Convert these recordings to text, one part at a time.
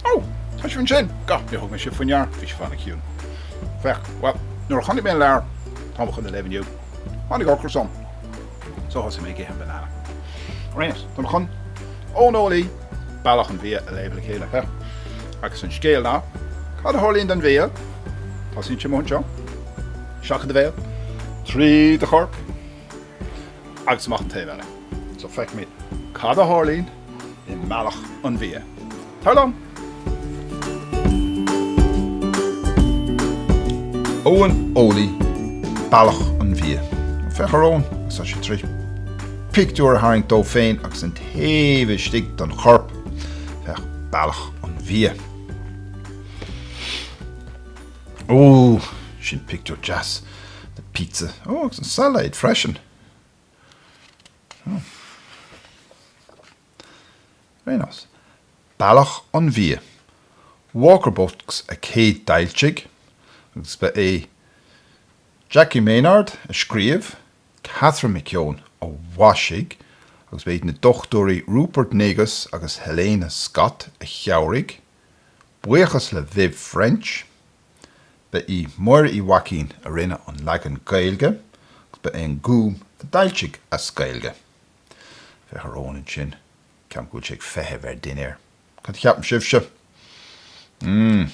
Ó! Tá sibh ansin! Gabh, níor thug mé sibh faoi ndeara, bhí sibh an-chiúin. Féach, bhuel, nuair a chonaic mé an leabhar, atáim chun a léamh inniu, tháinig ocras orm. So thosaigh mé ag ithe an banana. Great! Táim chun Eoin Eolaí, Bealach an Bhia, a léamh le chéile. Huh! Agus an scéal ná, cad a tharlaíonn don bhia? Tosaíonn sé mo anseo, isteach i do bhéal, tríd do chorp agus amach an taobh eile. So feicfimid cad a tharlaíonn. i mBealach an Bhia. Tar liom! Eoin Eolaí Bealach an Bhia. Féach ar Eoin agus tá sé tar éis pictiúr a tharraingt dó féin agus an taobh istigh den chorp. Féach Bealach an Bhia. Ó, sin pictiúr deas de pizza. Ó, agus an sailéad freisin. Very nice, Bealach an Bhia, Walker Books a chéadfhoilsigh agus ba é Jackie Maynard a scríobh, Catherine McKeown a mhaisigh agus ba iad na dochtúirí Rupert Negus agus Helena Scott a chabhraigh, buíochas le Viv French. Ba í Máire Uí Mhaicín a rinne an leagan Gaeilge agus ba é an Gúm a d'fhoilsigh as Gaeilge. Féach ar Eoin ansin, ceapaim go bhfuil sé ag feitheamh ar a dhinnéar. Cad a cheapann sibhse? mm.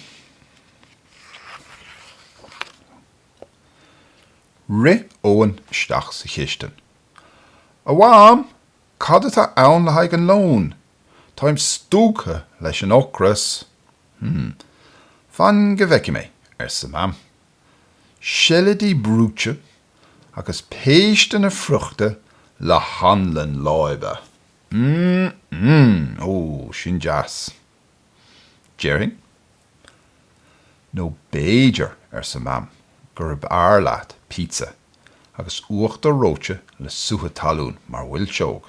Rith Eoin isteach sa chistin. A Mham, cad atá ann le haghaidh an lón? Táim stúgtha leis an ocras! Hm. Fan go bhfeicfidh mé, arsa Mam. Seilidí brúite agus péisteanna friochta le hanlann láibe. M-m-m! Ó, sin deas. Déarfainn, nó b'fhéidir, arsa Mam, gurb fhearr leat pizza agus uachtar reoite le sútha talún mar mhilseog.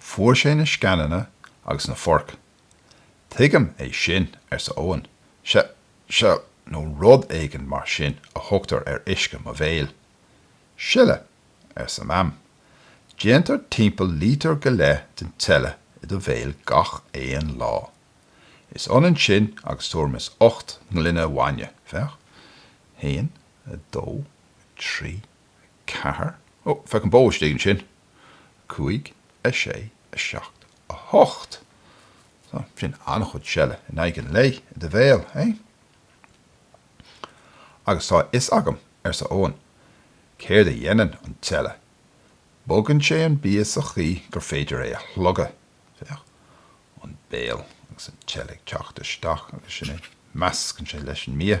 Fuair sé na sceananna agus na foirc. Tuigim é sin, arsa Eoin. Se, se, nó rud éigin mar sin a thugtar ar uisce i mo bhéal. Seile, arsa Mam. Déantar timpeall lítear go leith den tseile i do bhéal gach aon lá. Is ionann sin agus tuairim's ocht ngloine bhainne, féach, haon, a dó, a trí, 4, Ó, féach an bó istigh ansin. 5, 6, 7, 8, So, sin an-chuid seile in aghaidh an lae i do bhéal, eh? Agus tá a fhios agam, arsa Eoghan, céard a dhéanann an tseile. Bogann sé an bia sa chaoi gur féidir é a shlogadh. Féach, an béal agus an tseile ag teacht isteach agus sin é, meascann sé leis an mbia.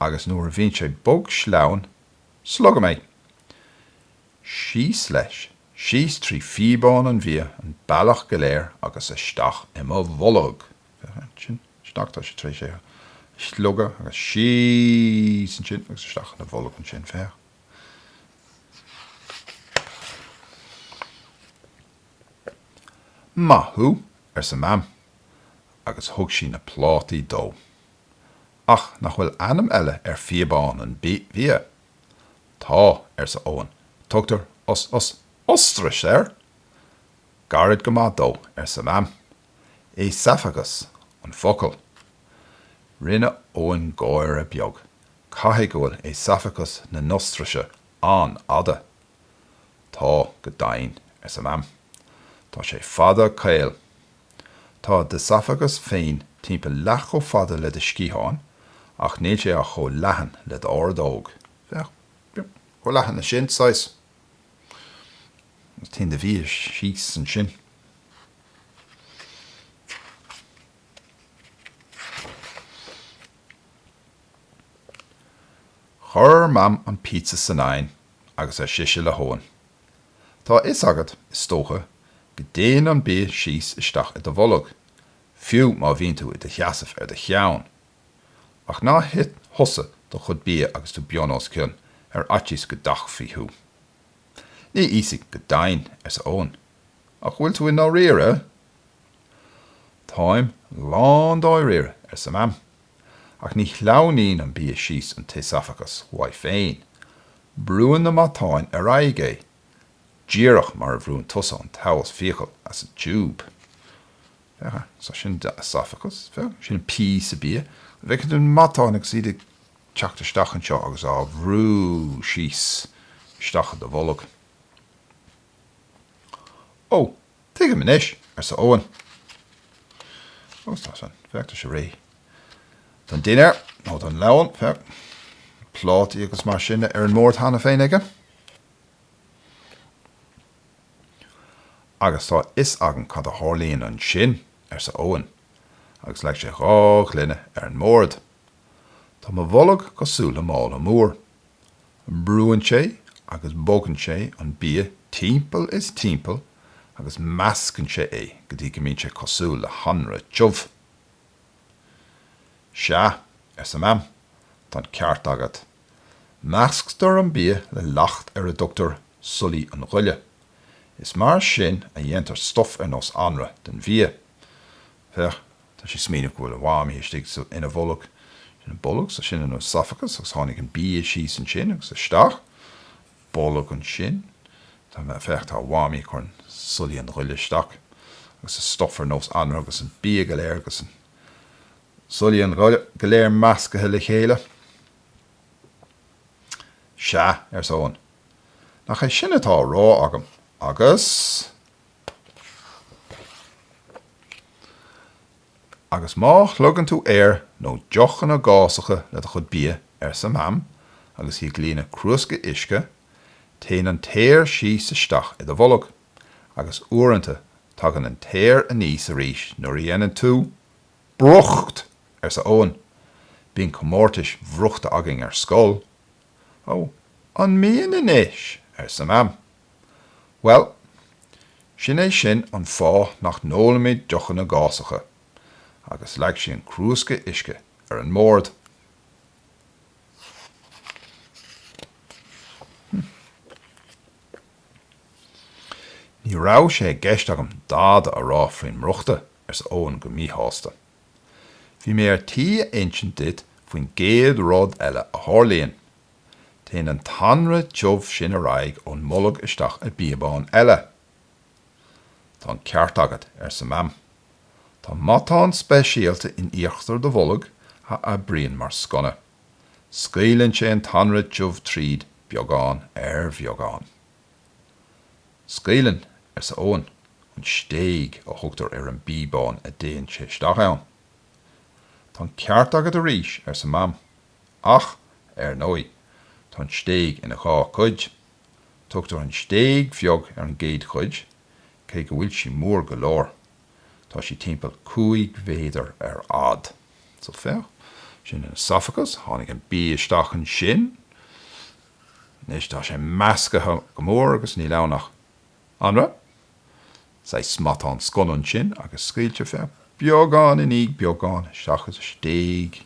agus nuair a bhíonn sé bog sleamhain, slogaim é, síos leis, síos trí phíobán an bhia, an bealach go léir agus isteach i mo bholg. Féach ansin, isteach, tá sé tar éis é a shlogadh, agus síos ansin agus isteach ina bholg ansin, féach. Maith thú, arsa Mam, agus thug sí na plátaí dó. Ach nach bhfuil ainm eile ar phíobán an bhia? Tá, arsa Eoghan, tugtar os, os, ostrais air! Gairid go maith dó, arsa Mam. Éasafagas an focal. Rinne Eoghan gáire beag, caithfidh go bhfuil éasafagas na n-ostraise an-fhada. Tá, go deimhin, arsa Mam. Tá sé fada caol. Tá d'éasafagas féin timpeall leath chomh fada le do sciatháin ach níl sé ach chomh leathan le d'ordóg. Féach. Chomh leathan leis sin, saghas. Agus téann do bhia síos ansin. Chuir Mam an píotsa san oigheann agus ar sise le hEoghan, Tá a fhios agat, is dócha, go dtéann an bia síos isteach i do bholg, fiú má bhíonn tú i do sheasamh ar do cheann. Ach ná hith thusa do chuid bia agus tú bunoscionn ar fhaitíos go dtachtfaí thú. Ní íosfaidh go deimhin, arsa Eoghan, ach bhfuil tú i ndáiríre? Táim lándáiríre, arsa Mam. Ach ní shleamhnaíonn an bia síos an t-éasafagas uaidh féin, brúann na matáin ar aghaidh é, díreach mar a bhrúnn tusa an taos fiacal as an tiúb. Féach, so sin d'éasafagas, féach, sin píosa bia, an bhfeiceann tú na matáin agus iad ag teacht isteach anseo agus á bhrú síos isteach i do bholg. Ó! Tuigim anois, arsa Eoin. Ó, tá a fhios agam. Féach, tá sé réidh don dinnéar, nó don lón. Féach, plátaí agus mar sin ar an mbord cheana féin aige. Agus tá a fhios agam cad a tharlaíonn ansin, arsa Eoin, agus leag sé dhá ghloine ar an mbord. Tá mo bholg cosúil le mála mór. Brúann sé agus bogann sé an bia timpeall is timpeall agus meascann sé é go dtí go mbíonn sé cosúil le hanraith tiubh. Sea, arsa Mam, tá an ceart agat. Measctar an bia le leacht ar a dtugtar súlaigh an ghoile. Is mar sin a dhéantar stuif ar nós anraith den bhia. Féach, tá sé ag smaoineamh go bhfuil a Mhamaí istigh ina bholg. Sin an bolg, so sin an oesophagus agus tháinig an bia síos ansin agus isteach, bolg ansin, tá mé, féach, tá a Mhamaí ag cur an súlaigh an ghoile isteach agus an stuif ar nós anraith agus an bia go léir agus an súlaigh an ghoile go léir meascaithe le chéile. Sea, arsa Eoin, nach é sin atá á rá agam agus. Agus má shlogann tú aer nó deochanna gásacha le do chuid bia, arsa Mam agus í ag líonadh crúsca uisce, téann an t-aer síos isteach i do bholg, agus uaireanta tagann an t-aer aníos arís nuair a dhéanann tú brúcht! arsa Eoin. Bíonn comórtais bhrúchta againn ar scoil. Ó, an mbíonn anois? arsa Mam. Bhuel, sin é sin an fáth nach n-ólaimid deochanna gásacha! Agus leag sí an crúsca uisce ar an mbord. Ní raibh sé i gceist agam dada a rá faoin mbrúchtadh, arsa Eoin go míshásta. Bhí mé ar tí a insint duit faoin gcéad rud eile a tharlaíonn. Téann an t-anraith tiubh sin ar aghaidh ón mbolg isteach i bpíobán eile. Tá an ceart agat, arsa Mam. Tá matán speisialta in íochtar do bhoilg a oibríonn mar sconna. Scaoileann sé an t-anraith tiubh tríd, beagán ar bheagán. Scaoileann, arsa Eoin. An stéig a thugtar ar an bpíobán a dtéann sé isteach ann. Tá an ceart agat arís, arsa Mam. Ach, ar ndóigh, tá an stéig ina dhá cuid. Tugtar an stéig bheag ar an gcéad chuid, cé go bhfuil sí mór go leor, tá sí timpeall cúig mhéadar ar fhad. So, féach, sin an oesophagus, tháinig an bia isteach ansin. Anois, tá sé meascaithe go mór agus níl ann ach. Anraith? Saghas matán sconna ansin agus scaoiltear é beagán i ndiaidh beagán isteach sa stéig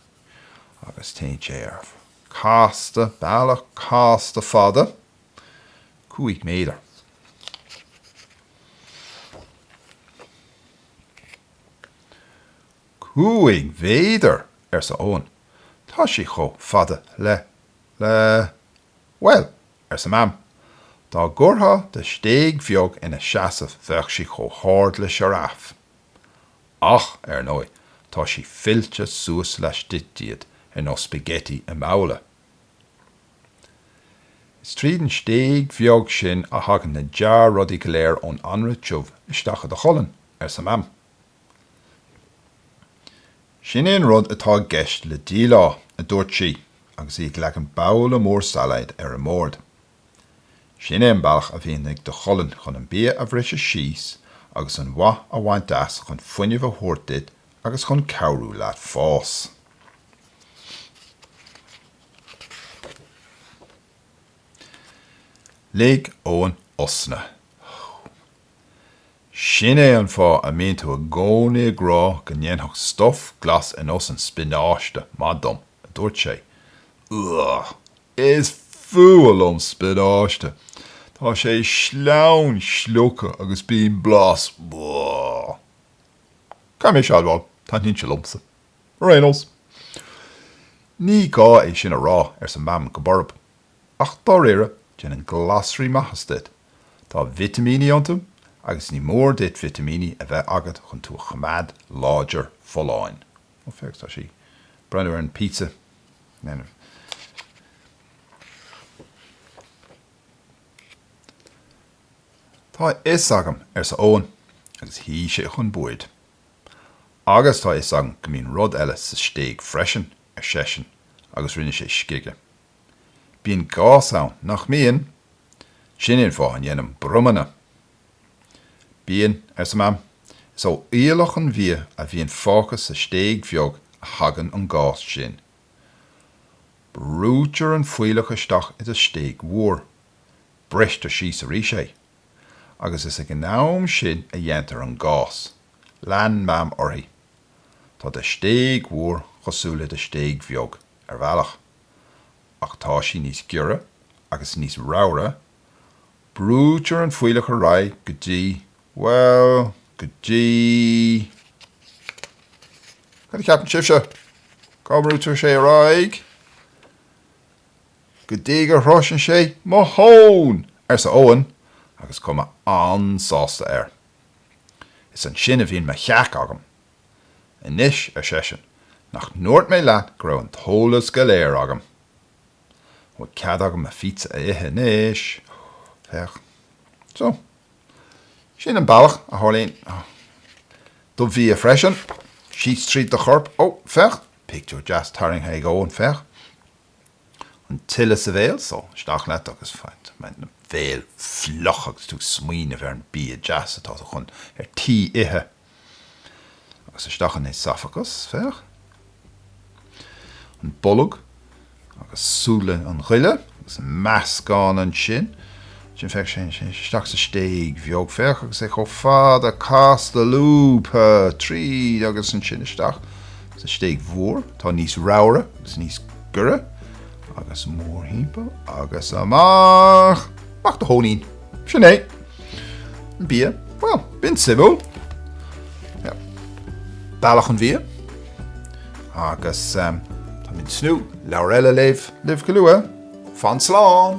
agus téann sé ar casta, bealach casta fada, cúig méadar. Cúig mhéadar! arsa Eoin. Tá sé chomh fada le, le, Bhuel, arsa Mam, dá gcuirtheá do stéig bheag ina seasamh bheadh sí chomh hard le sioráf. Ach, ar ndóigh, tá sí fillte suas laistigh díot ar nós spaghetti i mbabhla. Is tríd an stéig bheag sin a thagann na dea-rudaí go léir ón anraith tiubh isteach i do cholainn, arsa Mam. Sin é an rud atá i gceist le díleá, a dúirt sí agus í ag leagan babhla mór sailéid ar an mbord. Sin é an bealach a bhíonn ag do cholainn chun an bia a bhriseadh síos agus an mhaith a bhaint as chun fuinneamh a thabhairt duit agus chun cabhrú leat fás. Lig Eoin osna. Sin é an fáth a mbíonn tú i gcónaí ag rá go ndéanfadh stuif glas ar nós an spionáiste maith dom, a dúirt sé. Ugh! Is fuath liom spionáiste! Tá sé sleamhain slíoctha agus bíonn blas, ugh. Caithfidh mise a admháil, taitníonn sé liomsa. Ar aon nós, ní gá é sin a rá, arsa Mam go borb. Ach dáiríre, déanann glasraí maitheas duit. Tá vitimíní iontu agus ní mór duit vitimíní a bheith agat chun tú a choimeád láidir folláin. Ó, féach, tá sí ag breathnú ar an pizza. Tá a fhios agam, arsa Eoin agus shuigh sé chun boird. Agus tá a fhios agam go mbíonn rud eile sa stéig freisin, ar seisean agus rinne sé scige. Bíonn gás ann, nach mbíonn? Sin é an fáth a ndéanaim bromanna. Bíonn, arsa Mam. Is ó fhuíollach an bhia a bhíonn fágtha sa stéig bheag a thagann an gás sin. Brúitear an fuíollach isteach i do stéig mhór. Bristear síos arís é. Agus is ag an am sin a dhéantar an gás. Lean Mam uirthi. Tá do stéig mhór cosúil le do stéig bheag, ar bhealach. Ach tá sí níos giorra agus níos ramhra, brúitear an fuílleach ar aghaidh go dtí, bhuel, go dtí, cad a cheapann sibhse? Cá mbrúitear sé ar aghaidh? Go dtí go sroicheann sé mo thóin! arsa Eoin agus chuma an-sásta air. Is ansin a bhíonn mo theach agam, Anois, ar seisean, nach ndúirt mé leat go raibh an t-eolas go léir agam? An bhfuil cead agam mo phíotsa a ithe anois? Féach. So, sin an bealach a tharlaíonn do bhia freisin, síos tríd do chorp. Ó, féach, pictiúr deas tarraingthe ag Eoin, féach. An tseile sa bhéal, so, isteach leat agus bíonn do bhéal fliuch agus tú ag smaoineamh ar an bia deas atá chun ar tí ithe. Agus isteach an éasafagas, féach, an bolg agus súnna an ghoile agus an meascán ansin, ansin féach, isteach sa stéig bheag, féach, agus é chomh fada casta lúbtha tríd agus ansin isteach sa stéig mhór, atá níos ramhra agus níos giorra. Agus mórthimpeall agus amach! Amach do thóinín! Sin é! An bia, bhuel, b'in suimiúil. Bealach an bhia. Agus táim ag tnúth le leabhar eile a léamh libh go luath. Fan slán!